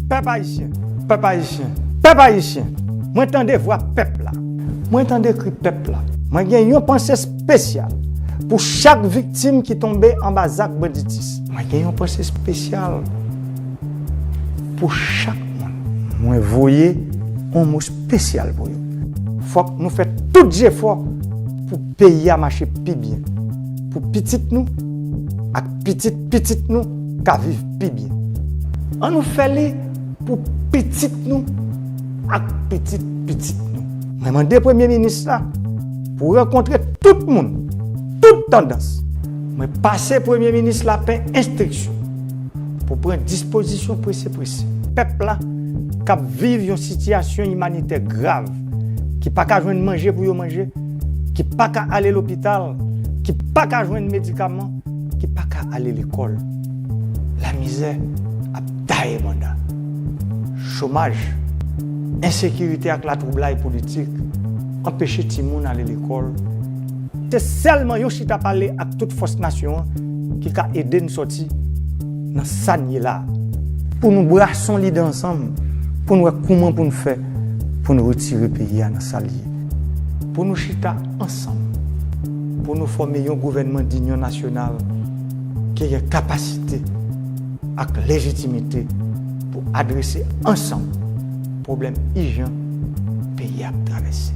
Pèp Ayisyen! Pèp Ayisyen! Pèp Ayisyen! Mwen tande vwa pèp la. Mwen tande kri pèp la. Mwen gen yon panse spesyal pou chak viktim ki tonbe anba zak banditis. Mwen gen yon panse spesyal pou chak moun. Mwen voye yon mo spesyal pou yo. Fòk nou fè tout jefò pou. peyi a mache pi byen, pou pitit nou ak pitit pitit nou ka viv pi byen. An nou fè li pou pitit nou ak pitit pitit nou. Mwen mande Premye Minis la pou rankontre tout moun, tout tandans. Mwen pase Premye Minis la pen enstriksyon pou pran dispozisyon prese prese. Pèp la k ap viv yon sitiyasyon imanitè grav, ki pa ka jwenn manje pou yo manje, ki pa ka ale lopital, ki pa ka jwenn medikaman, ki pa ka ale lekòl. Lamizè ap taye banda. Chomaj, ensekirite ak latwoublay politik anpeche timoun ale lekòl. Se sèlman yon chita pale ak tout fòs nasyon an ki ka ede n sòti nan sa n ye la a. Pou nou brason lide ansanm pou n wè kouman pou n fè pou n retire peyi a nan sa l ye. Pou nou chita ansanm, pou nou fòme yon gouvènman dinyon nasyonal ki gen kapasite ak lejitimite pou adrese ansanm pwoblèm ijan peyi a ap travèse.